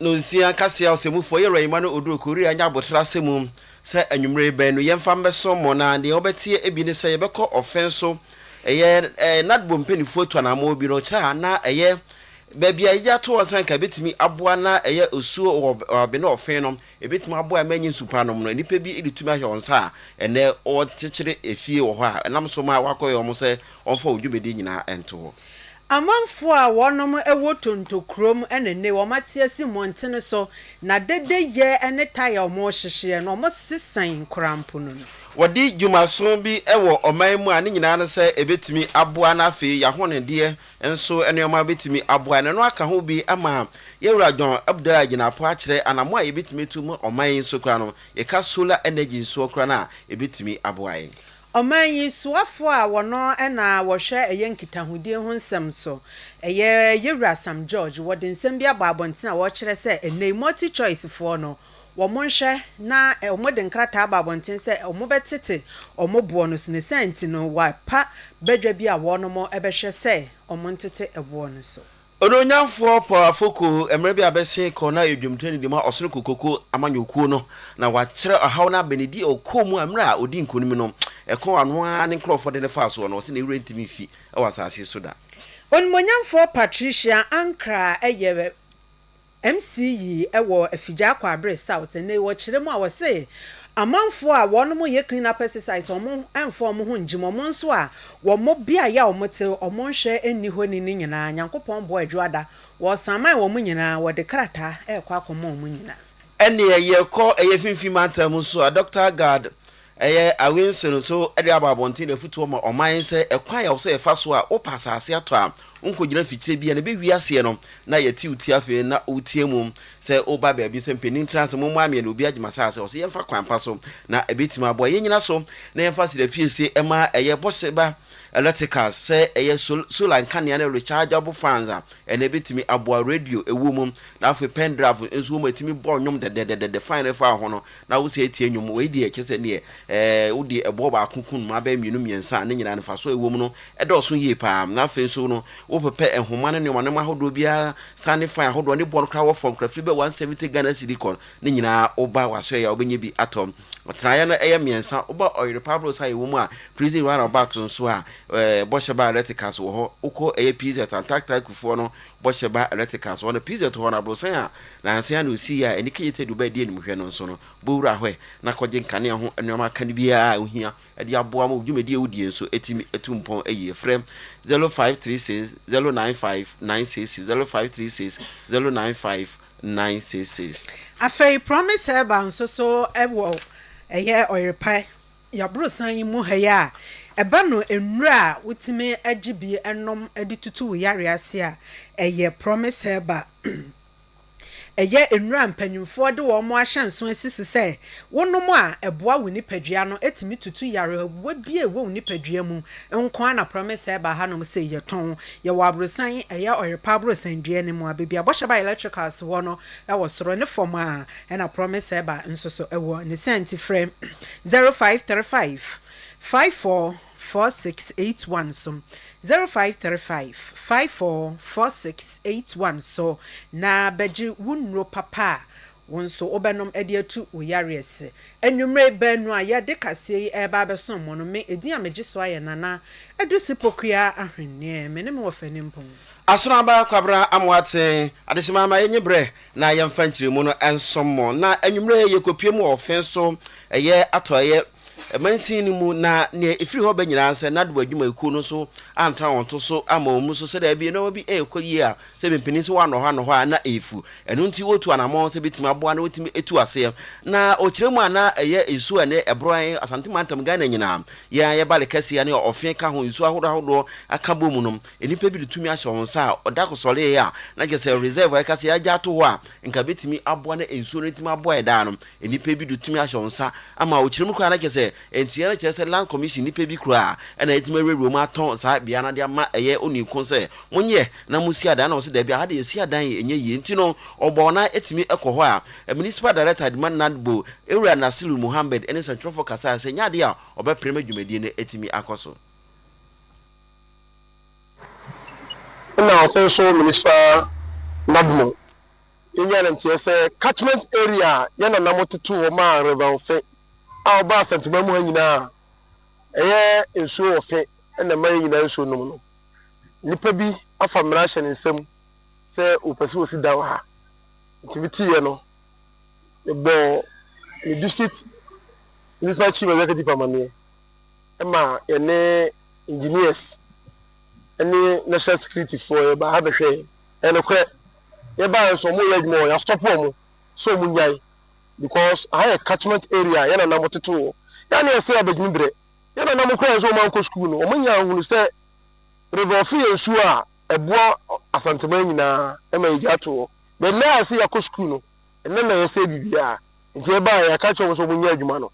Nonsia Kaseɛ Ɔsɛmufoɔ yɛ Rahima no oduru Korea nyɛ aboterɛ asɛm mu sɛ anwummere bɛn no yɛmfa mmɛsɔ mo na deɛ wobɛteɛ bi ne sɛ yɛbɛkɔ ɔfɛ nso ɛyɛ ɛɛ Nadbo mpaninfoɔ tu anammɔn bi no kyerɛ a na ɛyɛ baabi a yɛgye ato hɔ sɛ anka ɛbɛtumi aboa na ɛyɛ osuo wɔ wɔ abene ɔfɛ no Ebetumi aboa a ɛma enye nsu pa nom no. Nnipa bi de tumi ahyɛ wɔn nsa a ɛnnɛ wɔkyekyere afie wɔ hɔ a ɛnam so ma wɔakɔyɛ wɔn sɛ wɔmfa wɔn dwumadi nyinaa nto hɔ. Amanfoɔ a wɔnom wɔ Tonto kurom ne nnɛ wɔn ate asi mmɔntene so na dede yɛ ne tae a wɔn hyehyeɛ no wɔn sesan nkoranpono no. Wɔde dwumason bi wɔ ɔman mu a ne nyinaa ne sɛ ɛbɛtumi aboa na afei yɛahɔnedeɛ nso nneɛma betumi aboa. Nea ɛno aka ho bi ama yɛn wura John Abdallah agyina po akyerɛ anammɔn a yebetumi atu ma ɔman yi nso koraa no, yɛka solar energy nsoɔ koraa no a, ebetumi aboa yɛn. Ɔman yi soafoɔ a wɔno na wɔhwɛ ɛyɛ nkitahodie ho nsɛm nso, ɛyɛ yɛn wura Sam George, wɔde nsɛm bi abɔ abɔntene a wɔkyerɛ sɛ ɛnnɛ yi multi-choice foɔ no, Wɔnhwɛ na wɔde nkrataa aba abɔnten sɛ wɔbɛtete wɔn boɔ no so, ne saa nti no wɔapa badwa bi a wɔnom bɛhwɛ sɛ wɔntete boɔ no so. Onuonyamfoɔ Paul Afoko, mmerɛ bi a bɛsen kɔ na ɔyɛ dwomtoni de ma Ɔsoro Kokoku amanyɔkuo no, na wakyerɛ ɔhaw no abɛ ne deɛ ɔkɔɔ mu a mmerɛ a ɔdii nkonim no, ɛko a ɔno ara ne nkorɔfoɔ de no faa soɔ no, ɔse ne werɛ ntumi mfi wɔ asase so da. Onimuonyamfoɔ Patricia Ankrah yɛ MC yi wɔ Afigya Akwabre South ene wɔ kyerɛ mu a ɔse amanfoɔ a wɔn mo yɛ clean up exercise wɔn ɛnfa wɔn ho ngyim wɔn nso a wɔn mo beaeɛ a wɔn te wɔn nhwɛ nni hɔ ni ne nyinaa Nyankopɔn boɔ adwo ada wɔsaman wɔn mo nyinaa wɔde krataa ɛkɔ akɔma wɔn mo nyinaa. Ɛneɛ yɛkɔ ɛyɛ Finfin Mantam nso a Doctor Agard Ɛyɛ Awense no nso de aba abɔnten na afutuo ma ɔman sɛ ɛkwan a ɛwɔ sɛ yɛfa so a wopɛ asase atɔ a wonkɔgyina mfikyire biara na ɛbɛwie aseɛ no na yɛte wo ti afei na woteɛ mu sɛ woba baabi sɛ mpanin ntra sɛ mommoa meɛ na obiara gye m'asase ɔse yɛmfa kwan pa so na ɛbɛtumi aboa yɛn nyina so na yɛmfa serapiesie ɛma ɛyɛ bɔseba electricals sɛ ɛyɛ sol solar nkanea ne rechargeable fans a ɛna ɛbɛtumi aboa radio ɛwɔ mu na afei pendrive nso wɔn ɛtumi bɔ nnwom dɛdɛdɛdɛdɛ fine no ɛfa ho no Na wo sɛɛ tie nnwom, wei deɛ kyerɛ sɛ neɛ ɛɛ wode ɛboɔ baako ku nnomaa bɛyɛ mmienu mmiɛnsa a ne nyinaa no mfasoɔ a ɛwɔ mu no dɔɔso yie pa ara. Na afei nso no wopɛpɛ nhoma ne nnoɔma nnoɔma ahodoɔ biara, standing fan ahodoɔ ne boɔ no koraa wɔ fam koraa firi bɛ 170 Ghana cedi kɔ ne nyinaa woba w'asoɛeɛ a wobɛnya bi atɔ. Atenaeɛ no ɛyɛ mmiɛnsa, woba Ɔyere Pablos a ɛwɔ mu a prison round about nso a ɛɛ bɔhyɛ baa Reticas wɔ hɔ, wokɔ ɛyɛ PZ Antarctica akufoɔ no bɔhyɛ ba ɛlɛtrika so hɔ no, pizza tu hɔ no, abrɔsan a nansa yi ara na osii yɛ a ani kegye tadua ba a edi anim hwɛ no nso no, bɔ wura hɔ ɛ na kɔgye nkanea ho nneɛma aka no biara a ohia de aboa ma wo dwumadi a wodi yɛ nso atumi atu mpɔn ayie. Frɛ zero five three six zero nine five nine six six, zero five three six zero nine five nine six six. Afei Promise Herbal nso so wɔ ɛyɛ ɔyerepae Yabrosan yi mu hɛyɛ a ɛba no nnuro a wotumi gye bi nom de tutu wo yareɛ ase a ɛyɛ Promise Herbal. Ɛyɛ nnuro a mpanyimfoɔ de wɔn ahyɛnso asi so sɛ wonom a ɛboa wo nipadua no tumi tutu yarewa bi a ɛwɔ wo nipadua mu nko ara na Promise Herbal hanom sei yɛtɔn. Yɛwɔ abrosan yi ɛyɛ Ɔyerpa abrosan dua no mu a baabi a Bɔhyɛ Ba Electricals wɔ no wɔ soro ne fam a Ɛna Promise Herba nso so wɔ ne sɛn nti frɛ 0535 54 4681 so, 0535 54 4681 so na bɛgye wo nnuro papa a wo nso wobɛnom de atu wo yareɛ se. Anwummere baanu a yɛde kaseɛ yi reba abɛsom mo no, me edin a megye so ayɛ Nana Adusi Pokuya Ahweneɛ. Me ne me wɔfa Nimpong. Asono aba Kwabena Amoaten, Adehyema ama yɛnye berɛ na yɛmfa nkyeremu no nsom mo. Na anwummerɛ yi yɛkɔpue mu wɔ ɔfe so, ɛyɛ atɔeɛ mansin no mu, na nea ɛfiri hɔ ba nyinaa sɛ NADWA adwumayɛkuo no nso antra wɔn to so amma wɔn mu so sɛ daabi nneɛma bi rekɔ yie a sɛ mempani nso wɔanɔ hɔ anɔ hɔ a na ɛrefu. Ɛno nti wɔtu anammɔn sɛ bɛtumi aboa na wɔtumi tu aseɛ. Na ɔkyerɛ mu a na ɛyɛ nsuo a ɛnɛ ɛborɔ yɛn Asante mantam Ghana nyinaa, yɛn a yɛba Lekɛseɛ ne ɔfe ka ho nsuo ahodoɔ ahodoɔ ka bɔ mu no, Nnipa bi de tumi ahyɛ wɔn nsa a ɔda ko sɔree a na kyerɛ sɛ reserve a yɛka sɛ yɛagya ato hɔ a nka ɛbɛtumi aboa na nsuo no atumi aboa ɛdaa no. Nnipa bi de tumi ahyɛ wɔn nsa ama ɔkyena mu koraa na kyerɛ sɛ nteɛ no kyerɛ sɛ land commission nnipa bi koraa na atumi awurawura mu atɔn saa beaeɛ no ade ama ɛyɛ onii ko sɛ monyɛ na monsi adan na wɔsɛ daabi aha deɛ yɛsi adan yi ɛnyɛ yie nti no ɔbɔ wɔn a atumi kɔ hɔ a municipal director Adema Nadbo Ewura Nasiru Muhammed ne sɛntwerɛfoɔ kasaeɛ sɛ ɛnyɛ adeɛ a ɔbɛpere ma dwumadie no atumi akɔ so. Nna ɔpɛ nso Minnesota Nabmo nyaa ne nteɛ sɛ catchment area a yɛn nananom totoo hɔ maa Rev. Fe a ɔbaa Asantuma mu ha nyinaa a ɛyɛ nsuo wɔ Fe na ɛma yɛn nyinaa nsuo nom no. Nnipa bi afa mmara ahyɛ ne nsam sɛ wɔpɛ sɛ wɔsi dan wɔ ha. Nti meteeɛ no, mebɔɔ me district Municipal Chief Executive amanneɛ. ma yɛne engineers ne national security foɔ yɛbaa ha bɛhwɛ yɛn. Ɛyɛ nokorɛ. Yɛbaeɛ nso wɔyɛ adwuma wɔ yɛasɔpo wɔn sɛ wɔn nyae because aha yɛ catchment area a yɛn nana mo tete wɔ. Yɛa ne yɛsɛ abɛgyini berɛ. Yɛn nana mo koraa nso wɔn ankɔ sukuu no wɔn nyaa hunu sɛ River Ofe yɛ nsuo a ɛboa Asanteman nyinaa ɛma yɛgya ato hɔ. But laa yɛsɛ yɛakɔ sukuu no ɛnɛ na yɛsɛ biribiara. Nti yɛbaeɛ yɛaka kyerɛ wɔn sɛ wɔn nyɛ adwuma no.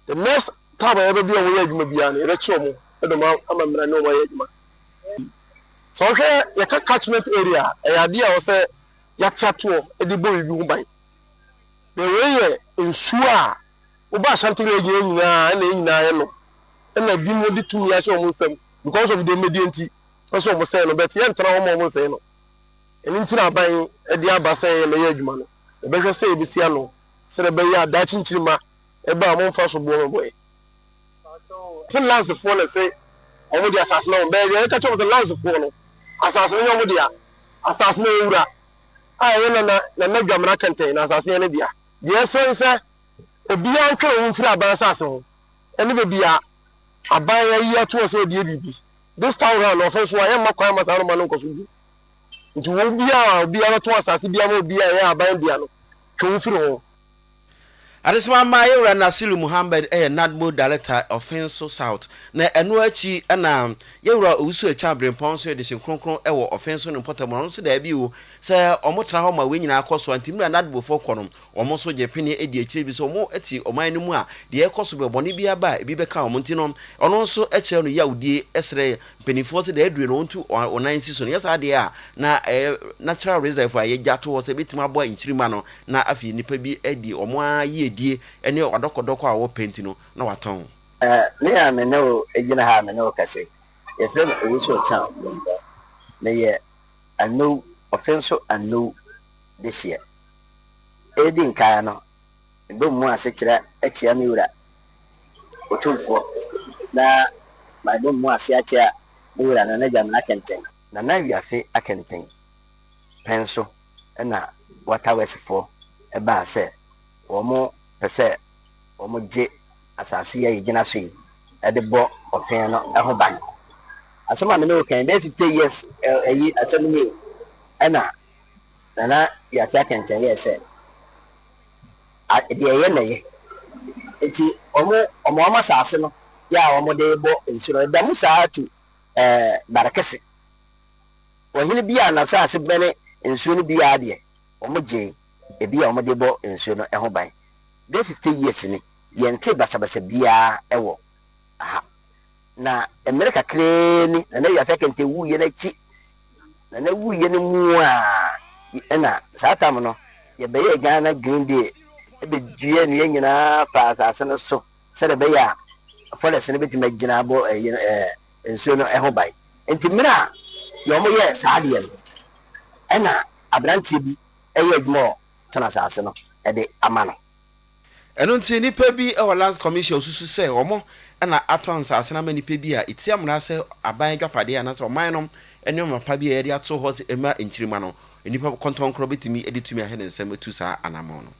the next time a yɛbɛbi wɔn yɛ adwuma biara no yɛbɛkye wɔn de wɔn ama mmara ne wɔn ayɛ adwuma sɛ ɔhwɛ yɛka catchment area a ɛyɛ adeɛ a ɔsɛ yɛate atoɔ de bɔ biribi ho ban na wei yɛ nsuo a woba ashanti region yɛ nyinaa ɛna yɛ nyinaa yɛ no ɛna bi mu de tumi ahyɛ wɔn nsam because of dɔmmɛdie nti ɔsɛ wɔn sɛn no bɛte yɛntena hɔ ma wɔn nsɛn no ɛno nti na aban de aba sɛ yɛmɛyɛ adwuma no yɛbɛhwɛ sɛ yɛbɛsi ano sɛdeɛ ɛbɛyɛ a daakye nkyirimma ɛba a wɔmfa soboɔ mmɛbɔeɛ. Se Lansefoɔ na se wɔn de asase ma wɔn, bɛyɛ deɛ yɛka kyerɛ wɔn sɛ Lansefoɔ no, asase no nyɛ wɔn dea. Asase no yɛ wura a ɛyɛ Nana Nana Dwamena kɛntɛn, na asase no yɛ ne dea. Deɛ ɛsɛ ne sɛ obiara ntwe ne ho mfiri aban asase ho, ɛne baabi a aban ayi atoɔ sɛ ɔdeɛ biribi. This time round, ɔfe nso a, yɛmma kwan mma saa nnoɔma no nkɔ so bio. Enti wɔn mu biara a obiara bɛtɔn asase biara ma obi a ɛyɛ aban dea no, twe wo firi ho. Adesamma Yɛwura Nasiru Muhammad yɛ Nadmo Darekta Ɔfenso South, na ɛno akyi na Yɛwura Owusu Akyang Abrempɔn nso yɛ Dehye Kronkron wɔ Ɔfenso ne mpɔtam, na ɔno nso da adi o sɛ wɔtra hɔ ma wei nyinaa kɔ so a, nti mmerɛ a Nadmofoɔ kɔ no, Wɔn nso gye pene di akyire bi sɛ wɔte ɔman no mu a, deɛ ɛrekɔ so bɛ, bɔne biara ba a, ebi bɛka wɔn nti no, ɔno nso kyerɛ no yawdie, ɛsrɛ mpanimfoɔ sɛ deɛ aduru no wɔntu wɔn nan nsi so. No yɛ saa deɛ a, na ɛyɛ na tra reserve a yɛgya to hɔ sɛ ɛbɛtumi aboa nkyirimma no, na afei nnipa bi adi wɔn ara yiedie ne adɔkɔdɔkɔ a wɔpɛ nti no, na wɔatɔn. Me a me ne wo gyina ha a me ne wo kasa yi, yɛfrɛ me Owusu Ochan Bombong. Meyɛ Anou, ɔfe nso Anou Dehyeɛ. Edi nkan no, mebɔ mu ase kyerɛ akyia me Wura Otumfoɔ, na mabɔ mu ase akyea me Wura Nana Dwamena Kenten. Nana Wiafe Akenten pɛn so na Water Worksfoɔ baa sɛ wɔn pɛ sɛ wɔn gye asase yi a yɛgyina so yi de bɔ ɔfeɛ no ho ban. Asɛm a me ne wo kan yi, bɛyɛ fifty years ayi asɛm nie o, ɛna Nana Wiafi Akɛntɛn yɛɛ sɛ deɛ ɛyɛ na yɛ nti wɔn wɔn wɔn asase no yɛ a wɔn de bɔ nsu no ɛda mu saa tu ɛɛ Barekese ɔhene bi a n'asase bɛne nsuo no biara deɛ wɔn gye ebi a wɔn de bɔ nsuo no ɛho ban bɛyɛ fifty years ni yɛn nte basabasa biara ɛwɔ aha. Na mmerɛ kakraa ni na na wiase akɛntɛ wuiɛ no akyi na na wuiɛ no mu a ɛna saa tam no yɛbɛyɛɛ Ghana Green Deal ɛbɛdua nnua nyinaa faa asase no so sɛdeɛ ɛbɛyɛ a forest no bɛtumi agyina abɔ ɛyi no ɛɛ nsuo no ɛho ban nti mmerɛ a yɛ wɔn yɛ saa adeɛ no ɛna aberanteɛ bi ɛyɛ adwuma wɔ tɔn asase no ɛde ama no. Ɛno nti nnipa bi wɔ Lands Commission a wɔsusu sɛ wɔn na atɔn nsase no ama nnipa bi a ɛtia mmara sɛ aban adwapadeɛ anaasɛ ɔman no nneɛma pa bi a wɔde ato hɔ sɛ ɛmma nkyirimma no, nnipa kɔntɔnkorɔ bɛtumi de tumi ahyɛ ne nsam atu saa anammɔn no.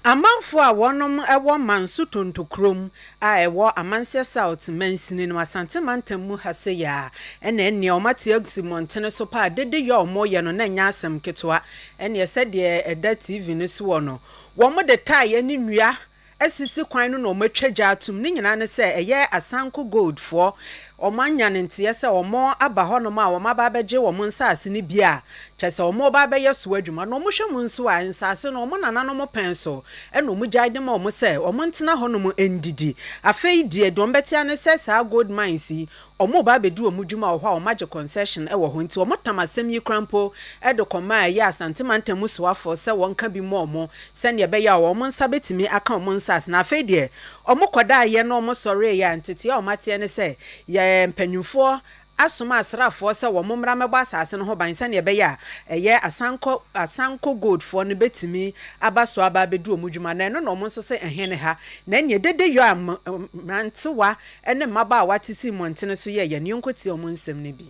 Amanfoɔ a wɔnom wɔ Manso Tontokurom a ɛwɔ Amanseɛ South mansini no Asante mantam mu ha sɛ yea ɛne ɛnneɛ wɔn ate asi mmɔntene so paa dede yɛ wɔn yɛ no na ɛnyɛ asɛm ketewa ɛnneɛ sɛdeɛ ɛda TV no so wɔ no Wɔde taeɛ ne nnua asisi kwan no na wɔatwa gya atom. Ne nyinaa ne sɛ ɛyɛ Asanko Goldfoɔ. Wɔanya no nteɛ sɛ wɔaba hɔnom a wɔaba abɛgye wɔn nsase no bi a kyerɛ sɛ wɔreba abɛyɛ so adwuma. Na wohwɛ mu nso a, nsase no wɔn nananom pɛn so na wɔgyae de ma wɔn sɛ wɔntena hɔnom nnidi. Afei deɛ deɛ wɔbɛte ara ne sɛ saa gold mines yi, Ɔmo ba abedi ɔmo dwuma wɔ hɔ a ɔmo agye concession wɔ hɔ nti ɔmo tam asɛm yi koraa mpo de kɔma ɛyɛ Asante mantam mu soafoɔ sɛ wɔn ka bi mma ɔmo sɛnea ɛbɛyɛ a ɔmo nsa bɛtumi aka ɔmo nsaase na afei deɛ ɔmo kɔdaeɛ no ɔmo sɔreeɛ a ntetee a ɔmo ateɛ ne sɛ yɛ mpanyinfoɔ asoma asraafoɔ sɛ wɔn mmra mmɛbɔ asaase no ho ban sɛnea ɛbɛyɛ a ɛyɛ Asankɔ Asanko Gold foɔ no bɛtumi aba so aba abɛdi ɔmo dwuma na ɛno na ɔmo nso se ɛhe ne ha na ɛneɛ dede yɔ a mmerantewa ne mmabaawa te sii mmɔntene so yɛɛ yɛn yɔnko tiaa mu nsɛm no bi.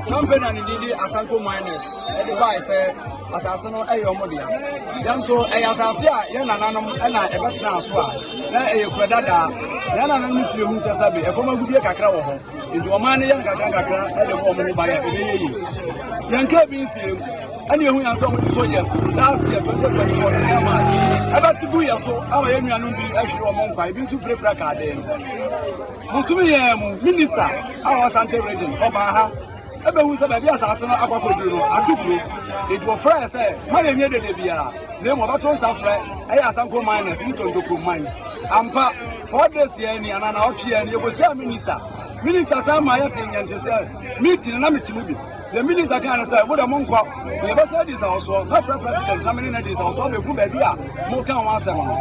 Kampeni a ne din de Asanko Miners de bae sɛ asase no yɛ wɔn dea. Nanso ɛyɛ asase a yɛn nananom na ɛbɛtenaa so a na ɛyɛ kura dada. Yɛn nananom no tumi hu sɛ sɛbe ɛfam agudie kakra wɔ hɔ, nti wɔn ara ne yɛ no kakrankakra de bɔ wɔn ho ban a ɛbɛyɛ yie. Yɛnkaa bi nsiam. ɛna ehu yɛn sɛ wɔde soldiers last year twenty twenty four ne yɛn maa ɛbɛte gu yɛn so ama yɛn nuanom bi ahwere wɔn nkwa ebi nso pirapira kaa dɛm bosomi yɛn mu minista a wɔwɔ sante region ɔbaa ha ɛbɛhu sɛ baabi asase no akɔkɔduru no ato kuro enti wɔfrɛ yɛ sɛ ma yɛnyɛ dede biara na emu ɔbɛto nsa frɛ ɛyɛ asanko miners ne tontokuro man ampa four days yɛn ni anana ɔtwe yɛn ni yɛkɔhyia minista minista san ma yɛte nyɛnte sɛ meeting na mete mu bi Deɛ minista kaa ne sɛ, mo deɛ monkɔ, na yɛbɛsɛ adi nsawɔsoɔ, mɛfrɛ president na me ne no adi nsawɔsoɔ abɛhu baabi a moreka ho asɛm no.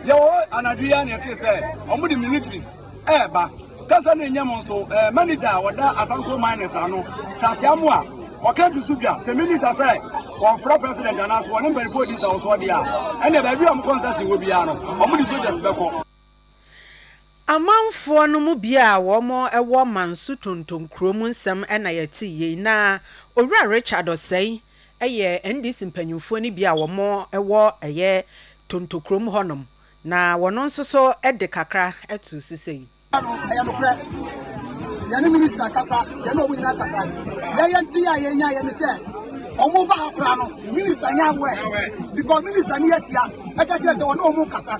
Yɛwɔ hɔ anadwo yi ara na yɛtee sɛ wɔde militaries ɛreba. Kasa no nyɛ mo nso. Eh, manager a wɔda Asanko Miners ano, Charles Amoa, ɔka to so dwa sɛ minista sɛ wɔmfrɛ president anaasɛ wɔne mpanimfoɔ di nsawɔsoɔ deɛ a, ɛnneɛ baabi a wɔkɔ nsase wɔ biara no, wɔde soldiers bɛkɔ. Amanfoɔ no mu bi a wɔn wɔ Manso Tonton kuro mu nsɛm na yɛtee yei. Na Owura Richard Osei yɛ NDC mpaninfoɔ no bi a wɔn wɔ ɛyɛ Tonto kurom hɔ nom. Na wɔn nso so de kakra too so sei. Ɛyɛ nokorɛ, yɛne Minister kasa, yɛne wɔn nyinaa kasa. Deɛ yɛtee a yɛnyaeɛ ne sɛ, wɔn ba ha koraa no, Minister nyɛ aware because Minister ne ahyia ka kyerɛ sɛ wɔne wɔn rekasa.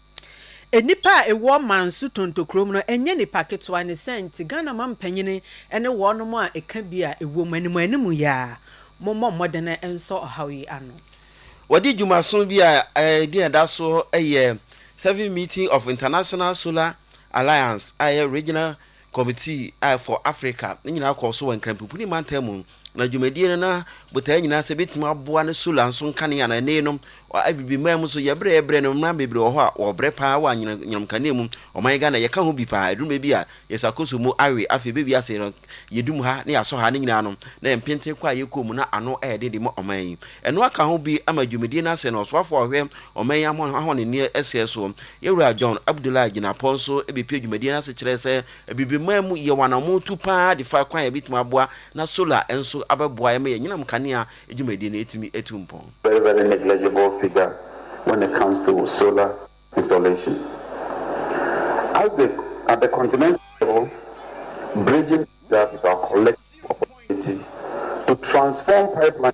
Nnipa a ɛwɔ Manso Tonto kurom no ɛnyɛ nnipa ketewa ne sɛ nti Ghana mampanin ne wɔnom a ɛka bi a ɛwɔ mu anim anim yi ara mommɔ mmɔden nsɔ ɔhaw yi ano. Wɔde dwumaso bi a ɛdin a ɛda so yɛ Seventh Meeting of International Solar Alliance a ɛyɛ Regional Committee a for Africa ne nyinaa kɔɔ so wɔ Nkranpipuni mantam mu, na dwumadie no na botaeɛ nyinaa sɛ ɛbɛtumi aboa ne solar nso nkanea anaa ɛnee no wɔ Abibi man mu nso yɛbrɛ yɛbrɛ no mmran bebree wɔ hɔ a wɔbrɛ paa wɔ anyinam nyinam kanea mu ɔman Ghana yɛka ho bi paa ɛduru baabi a yɛsakoso mu awe afei ɛbɛwie ase no yɛdum ha ne yɛasɔ ha ne nyinaa no na yɛn mpenten kɔ a yɛkɔ mu na ano ɛyɛ den de ma ɔman yi ɛno aka ho bi ama dwumadie no asɛ na ɔsoafoɔ a ɔhwɛ Ɔman yi ahɔnenneɛ sɛɛ so. Yɛn Wura John Abdullahi Jinapor nso bɛpie dwumadie no ase kyerɛɛ sɛ Abibiman mu yɛ wɔ anammɔn tu pa ara de fa kwan a ɛbɛtumi aboa na solar nso abɛboa yɛn ma yɛn anyinam kanea dwumadie no atumi atu mpɔn. Very very negligible figure when it comes to solar installation as the at the continental level bridging the gap is our collective opportunity to transform pipelines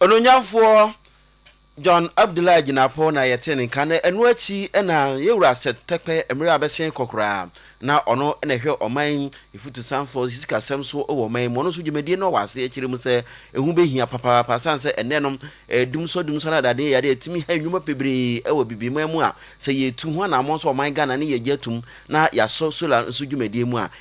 Onuonyamfoɔ John Abdullah Jinapor na yɛtee ne nka na ɛno akyi na yɛn wura Seth Terkper mmerɛ a bɛsen kɔ koraa na ɔno na ɛhwɛ ɔman afutusanfoɔ sikasɛm so wɔ ɔman yi mu ɔno nso dwumadie no wɔ aseɛ kyerɛ mu sɛ ɛho bɛhia papaapa asiane sɛ ɛnɛ no dumsɔ dumsɔ no adadeɛ yɛade atumi ha nnwuma bebree wɔ bibiman mu a sɛ yɛtu ho anammɔn sɛ ɔman Ghana ne yɛgye atum na yɛasɔ solar nso dwumadie mu a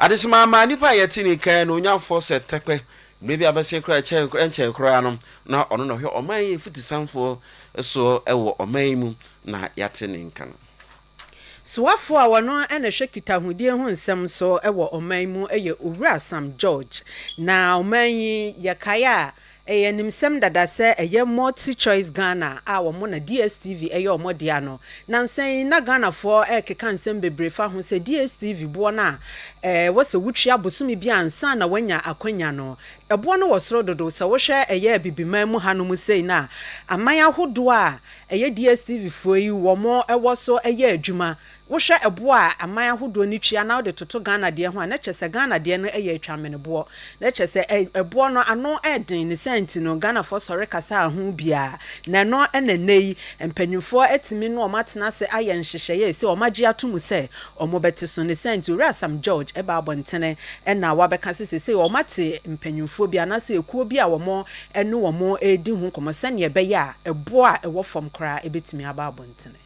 Adesemma amaa nnipa a yɛte ne kan no nya fɔ sɛ tɛpɛ, mmerɛ bi a bɛsee koraa ɛkyɛn ɛnkyɛe koraa no na ɔno na ɔhwɛ ɔman yi fitisanfoɔ soɔ wɔ ɔman yi mu na yɛate ne nka no. Soafoɔ a ɔno na ɛhwɛ kitahodie ho nsɛm so wɔ ɔman yi mu yɛ Owura Sam George. Na ɔman yi yɛkae a Ɛyɛ animsɛm dada sɛ ɛyɛ Multi Choice Ghana a wɔn na DSTV yɛ wɔn dea no. Nansa yi na Ghanafoɔ rekeka nsɛm bebree fa ho sɛ DSTV boɔ no a ɛwɔ sɛ wotua bosome biara ansa na woanya akwanya no, ɛboɔ no wɔ soro dodo. Sɛ wohwɛ ɛyɛ Abibiman mu hanom sei no a, aman ahodoɔ a ɛyɛ DSTVfoɔ yi wɔn wɔ so yɛ adwuma Wohwɛ ɛboɔ a aman ahodoɔ no tua na wode toto Ghana deɛ ho a, na kyerɛ sɛ Ghana deɛ no yɛ atwammeneboɔ. Na kyerɛ sɛ ɛ, ɛboɔ no ano den. Ne saa nti no, Ghanafoɔ sɔre kasaa ho biara. Na ɛno na ɛnnɛ yi, mpanimfoɔ atumi ne wɔn atena ase ayɛ nhyehyɛeɛ a ɛsɛ, wɔagye ato mu sɛ wɔbɛte so. Ne saa nti, Owura Sam George ɛbaa abɔntene na wabɛka sɛ seesei wɔate mpanimfoɔ bi anaasɛ ekuo bi a wɔne wɔn redi ho nkɔmmɔ sɛdeɛ ɛbɛyɛ a ɛboɔ a ɛwɔ fam koraa bɛtumi aba abɔntene.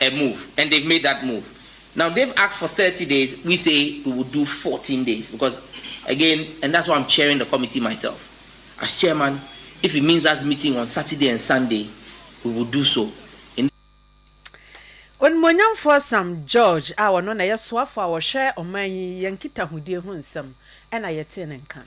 a move and they've made that move now they've asked for thirty days we say we will do fourteen days because again and that's why I'm chairing the committee myself as chairman if it means us meeting on Saturday and Sunday we will do so in Onimuonyamfoɔ Sam George a ɔno na ɛyɛ soafoɔ a ɔhwɛ ɔman yi yɛn nkitahodie ho nsɛm na yɛtee ne nka no.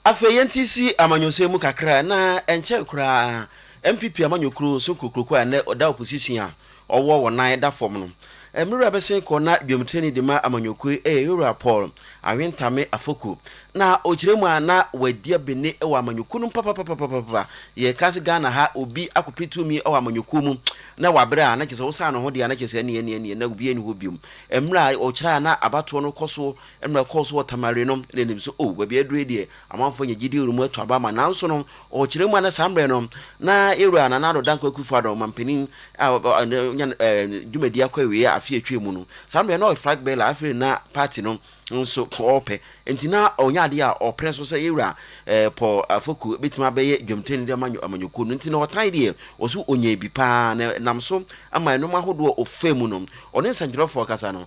Afei yɛnte si amanyɔsɛm mu kakra a, na ɛnkyɛn koraa NPP amanyɔkuo nso nkokuroko a nnɛ ɔda opposition a ɔwɔ wɔ nan da fam no. Me wura bɛsen kɔ na dwamtrani de ma amanyɔkuo yi yɛ yɛwura Paul Awentame Afoku. Na ɔkyerɛ mu a na wadi abene wɔ amanyɔkuo no mu papapapapapa. Yɛka sɛ Ghana ha obi akɔpɛ tumi wɔ amanyɔkuo mu na wabrɛ a na kyerɛ sɛ wosan ne ho deɛ a na kyerɛ sɛ ɛneɛ ɛneɛ ɛneɛ na obiara nni hɔ bio. Mmerɛ a ɔkyerɛ a na abatoɔ no kɔ so Mmerɛ kɔɔ so wɔ Tamari no, na ɛnim sɛ, O, baabi a aduru yi deɛ, amanfoɔ anya gyidie wɔ mu atu aba ama. Nanso no, wɔ ɔkyena mu anaa saa mmerɛ no, na yɛn Wura Nana Addo Dankwa Akufo-Addo, Ɔmampanin a wanya ne dwumadie akɔ awieɛ afe a atwaa mu no, saa mmerɛ yi na ɔyɛ Flag Bearer, afei na Party no nso ɔrepɛ, enti na ɔnya adeɛ a ɔpere nso sɛ yɛn Wura Paul Afoku bɛtumi abɛyɛ dwamteni de ama amanyɔkuo no. Enti na ɔtan deɛ, wɔse ɔnyaa bi pa ara, na ɛnam so ma nnoɔma ahodoɔ a ɔfaa mu no, ɔne nsɛntwerɛfoɔ ankasa no,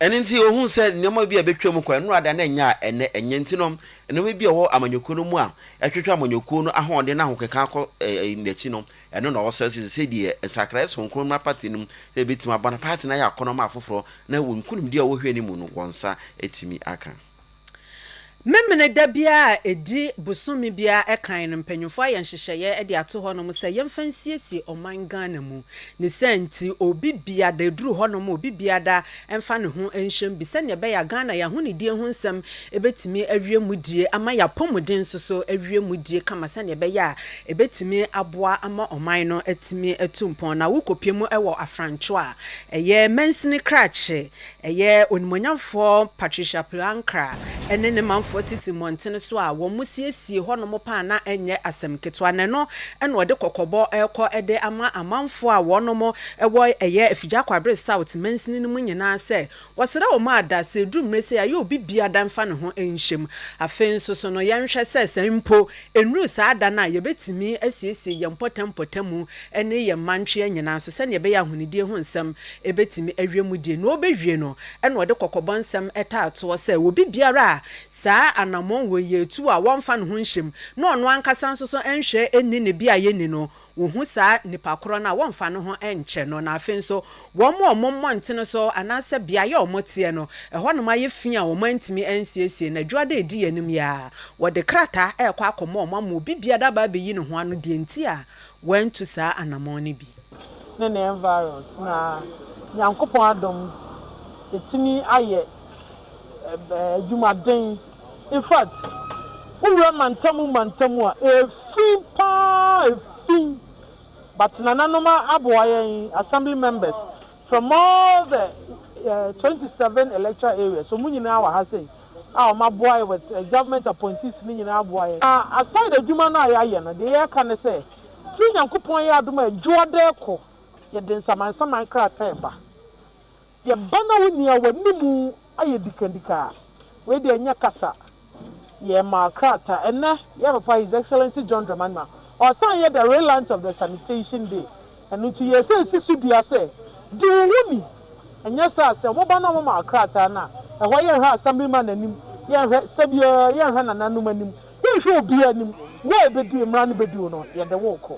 Ɛno nti, ohuu sɛ nneɛma bi a ebetwam kɔ nnora da na ɛnyɛ a ɛnnɛ ɛnyɛ. Enti no, nneɛma bi a ɛwɔ amanyɔkuo no mu a ɛtwetwe amanyɔkuo no ahoɔden ne ahokeka kɔ n'akyi no, ɛno na ɔsrɛ sɛ sɛ deɛ nsakraeɛ soronko mmra party no mu sɛ ebetumi aboa na party no ayɛ akɔnɔ ama afoforɔ na wɔ nkunimdie a wɔhwɛ no mu no wɔn nsa atumi aka. Memeneda biara a ɛdi bosome biara kan no, mpanyimfoɔ ayɛ nhyehyɛeɛ de ato hɔnom sɛ yɛmfa nsiesie ɔman Ghana mu. Ne saa nti, obi biada, ɛduru hɔnom a, obi biada mfa ne ho nhyɛm bi sɛdeɛ ɛbɛyɛ a Ghana yɛn ahonidie ho nsɛm bɛtumi awie mu die ama yɛn apɔmuden nso so awie mu die kama sɛdeɛ ɛbɛyɛ a ɛbɛtumi aboa ama ɔman no atumi atu mpɔn. Na wokɔpie mu wɔ Afranco a ɛyɛ mansini krakye Ɛyɛ Onimuonyamfoɔ Patricia Pilankar ne ne manfoɔ tete mmɔntene so a wɔsiesie hɔnom paa na ɛnyɛ asɛm ketewa na ɛno na ɔde kɔkɔbɔ rekɔ de ama amanfoɔ a wɔnom wɔ ɛyɛ Afigya Kwabre South mansini no mu nyinaa sɛ wɔsrɛ wɔn a da sɛ ɛduru mmerɛ sei a yɛ obi biada mfa ne ho nhyɛm afei nso so no yɛnhwɛ sɛ sɛ mpo Ɛnnuru saa da no a, yɛbɛtumi asiesie yɛn mpɔtam mpɔtamu ne yɛn mma ntwea nyinaa nso sɛdeɛ ɛbɛyɛ a ahonidie ho nsɛm bɛtumi awie mu die. Nea ɔbɛwie no na ɔde kɔkɔbɔ nsɛm taa toɔ sɛ, obi biara a saa anammɔn wei yɛ tu a wɔmfa ne ho nhyɛ mu na ɔno ankasa nso so nhwɛ nni ne beaeɛ nni no, wɔhu saa nipa korɔ no a, wɔmfa ne ho nkyɛ no, na afei nso wɔn a wɔn mmɔntene so anaasɛ beaeɛ a wɔteɛ no, ɛhɔnom ayɛ fi a wɔantumi ansiesie, na adwuma da a ɛdi yɛn anim yi ara, wɔde krataa rekɔ akɔma wɔn ama obi biara aba abɛyi ne ho ano deɛ nti a wɔantu saa anammɔn no bi. ne ne environs, na Nyankopɔn adom, yɛtumi ayɛ adwuma den. In fact, wo wura mantamu mantamu a efi paa efi but nananom aboa yɛn assembly members from all the twenty seven electoral areas wɔn nyinaa wɔ ha sei a wɔn aboa yɛn with government appointees no nyinaa aboa yɛn na aside adwuma no a yɛayɛ no deɛ yɛreka ne sɛ through Nyankopɔn yɛ adom a adwoada rekɔ yɛde nsamansaman krataa reba Yɛ ba na wo nua w'anim ayɛ dikadika a, wei deɛ nyɛ kasa. Yɛ ma krataa. Ɛnnɛ, yɛ papa His Excellency John Dramani Mahama, ɔsan yɛ the relaunch of the sanitation day. Ɛno nti yɛ sɛ si so dua sɛ, di wo ho ni. Ɛnyɛ saa a, sɛ mo ba na mo ma krataa no a, ɛhɔ yɛ nhwɛ Assemblyman anim, yɛ nhwɛ sɛbiara, yɛ nhwɛ nananom anim, yɛ nhwɛ obiara anim. Wo a ɛbɛdi, mmara no bɛdi wo no, yɛde wo rekɔ.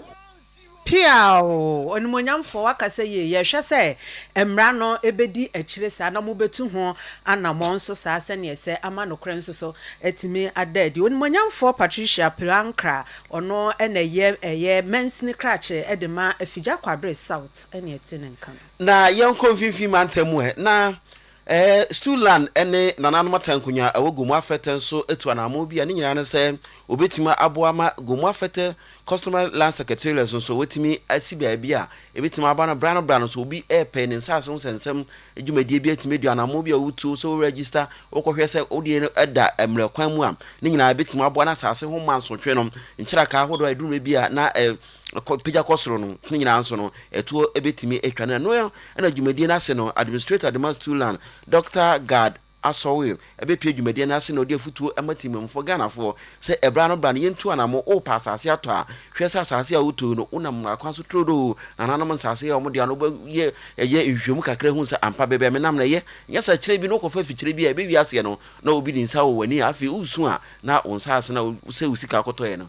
Piaaww! Onimuonyamfoɔ, wakasa yie. Yɛhwɛ sɛ mmara no bɛdi akyire saa na mobɛtu ho anammɔn nso saa sɛdeɛ ɛsɛ ama nokorɛ nso so atumi ada adi. Onimuonyamfoɔ Patricia Pilankra, ɔno na ɛyɛ ɛyɛ mansini krakye de ma Afigya Kwabre South ɛne ɛte ne nka no. Na yɛnkɔ mfimfini mantam mu ɛ, na Ɛɛ, Stu Land ne Nananom Atankonwa a ɛwɔ Gomoa Fɛtɛ nso atu anammɔn bi a ne nyinaa ne sɛ wɔbɛtumi aboa ma Gomoa Fɛtɛ Customary Land Secretariat nso wɔatumi asi baabi a ɛbɛtumi aba no berɛ ano berɛ ano. Sɛ obi repɛ ne nsase ho sɛnsɛm dwumadie bi atumi adu anammɔn bi a wotuo sɛ wo register, wokɔhwɛ sɛ wo deɛ no da mmerɛ kwan mu a, ne nyinaa ɛbɛtumi aboa na asase ho mansotwe no nkyerɛkaa ahodoɔ a ɛduru mmerɛ bi a na kɔ pagya kɔ soro no ne nyinaa nso no ɛtoɔ bɛtumi atwa no ɛno ɛna dwumadie no ase no administrator de ma Stulan Dɔkta Gad Asɔwil ɛbɛpie dwumadie no ase na ɔde afutuo ɛma temamufoɔ Ghanafoɔ sɛ ɛbra no bra no yɛntu anamo wopɛ asase atɔ a hwɛ sɛ asase a wotoi no wonam mmara kwan so turodoo nananom nsase yɛ wɔn deɛ no wobɛyɛ ɛyɛ nhwehwɛmu kakra hu sɛ ampa bɛbɛ menam na ɛyɛ nyɛ sɛ kyerɛ bi no wokɔfa fikyerɛ bi a ɛbɛwi aseɛ no na obi de nsa wɔ w'ani a afei wosu a na wo nsa ase na sɛ wo sika akɔtɔɛ no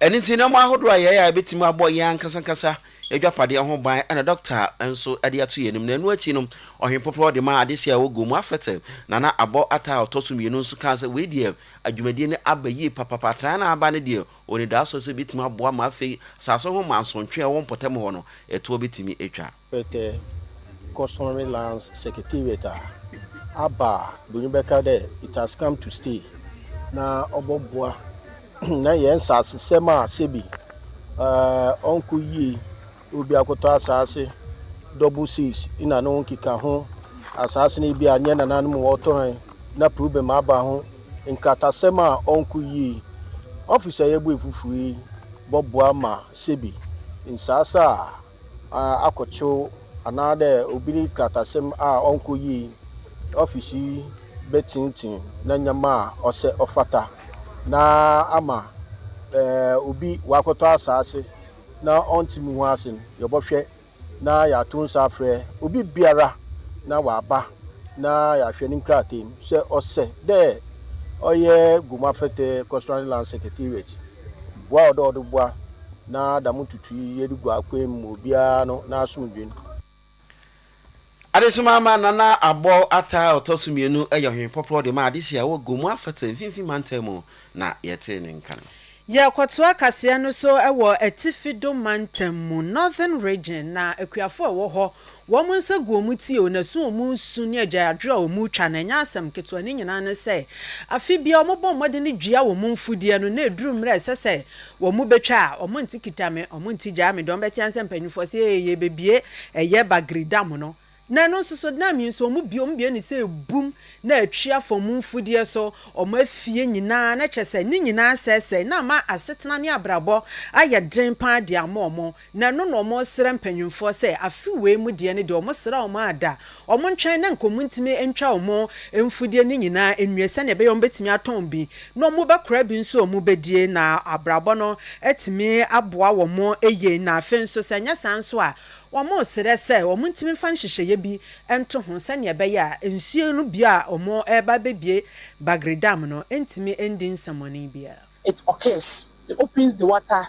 Ɛno nti, nneɛma ahodoɔ a yɛyɛ a ɛbɛtumi abɔ yɛn ankasankasa adwapadeɛ ho ban na dɔkta nso de ato yɛn anim. Na ɛno akyi no, Ɔhene Poprɔ de maa adehyeɛ a ɛwɔ Gomu Afete, Nana Abɔ Atta a ɔtɔ so mmienu nso kaa sɛ wei deɛ adwumadie no aba yie papapa. Atraeɛ no a aba no deɛ ɔnidasoɔ sɛ ɛbɛtumi aboa ma afei asase ho mansontwe a ɛwɔ mpɔtam hɔ no, ɛtoɔ bɛtumi atwa. Pɛtɛ, Customary Lands Secretariat a aba a bronyi bɛka dɛ it has come to stay na ɔbɔboa na hɛn nsaasesɛm a sɛbi ɔnnkɔ yie, obi akɔtɔ asaase double six na no nkekaho, asaase no bi a nnyɛ nananom wɔtɔ hɛn na problem aba ho, nkratasɛm a ɔnnkɔ yie. Office a yɛbue fofor yi bɔboa ma sɛbi nsaase a. akɔkyew anaadɛ obi ne krataasɛm a ɔnnkɔ yie yi, ɔfis yi bɛtsenetsen n'ndzɛmba a ɔsɛ ɔfata na ama obi ɔakɔtɔ asaase na ɔnntse mo ho ase no, yɛbɔhwɛ na yɛato nsa afrɛ obibiara na ɔaba na yɛahwɛ ne nkrataa mu sɛ ɔsɛ dɛ ɔyɛ Goma Fɛtɛɛ Customary Land Secretariat. Boa a ɔdɔ ɔde boa na dɛm ntutu yi yɛde gu akwan mu ma obiara no n'asomdwen. Adesima ama Nana Abɔw ataa a ɔtɔ so mmienu yɛ ɔhwehwɛ pɔprɔ de ma adehye a ɛwɔ Gomu Afata Mfinfini Mantam mu na yɛtee ne nka no. Yɛkɔtoa kaseɛ no so wɔ Atifi Dome Mantam mu, Northern Region, na akuafo a ɛwɔ hɔ Wɔn nsa gu wɔn ti o, na su wɔn su ne agyaadwoɔ a wɔretwa no, ɛnyɛ asɛm ketewa. Ne nyinaa ne sɛ, afe biara wɔbɔ mmɔden dua wɔn mfudeɛ no, na ɛduru mmerɛ a ɛsɛ sɛ wɔbɛtwa a, wɔnte kita me, wɔnte gyaa me, deɛ wɔbɛtea sɛ mpanimfoɔ se, Ee, yɛrebɛbue ɛyɛ Bagre Dam no. Na ɛno nso so, dam yi nso, wɔbue, wɔbue no sɛ ɛbum, na atwi afa wɔn mfudeɛ so, wɔn afie nyinaa, na kyerɛ sɛ, ne nyinaa asɛesɛe, na ama asetena ne abrabɔ ayɛ den pa ara de ama wɔn. Na ɛno na ɔmo srɛ mpanyinfoɔ sɛ afe wei mu deɛ no deɛ ɔmo sra ɔmo a da ɔmo ntwɛn na nka ɔmo ntumi ntwa ɔmo mfudeɛ no nyinaa nwie sɛdeɛ ɛbɛyɛ ɔmo bɛtumi atɔn bi na ɔmo bɛkora bi nso a ɔmo bɛdie na abrabɔ no atumi aboa ɔmo yie na afei nso sɛ ɛnyɛ saa nso a ɔmo srɛ sɛ ɔmo ntumi mfa nhyehyɛeɛ bi nto ho sɛdeɛ ɛbɛyɛ a nsuo no bue a ɔmo reba abɛbue Bagre Dam no ntumi ndi nsɛmɔne biara. It occurs, it opens the water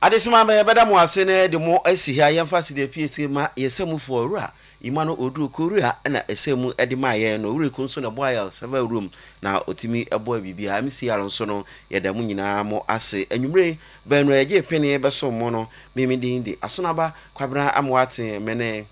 Adesima me bɛda mo ase na yɛde mo asi ha yɛmfa sida piesie ma yɛ sɛmufoɔ owura Emmanuel Oduro Korea na ɛsɛmu de maa yɛn na owura Eku nso na ɛboa yɛn sɛ va room na ɔtumi boa biribiara MCR nso no yɛda mo nyinaa mo ase anwummere yi baanu a yɛgyee pene bɛsom mo no me me din de Asonaba Kwabena Amoateng me ne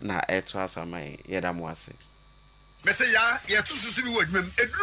na ɛto asa ma yɛn. Yɛda mo ase. Mese yaa yɛto so so bi wɔ adwuma mu. Eduru.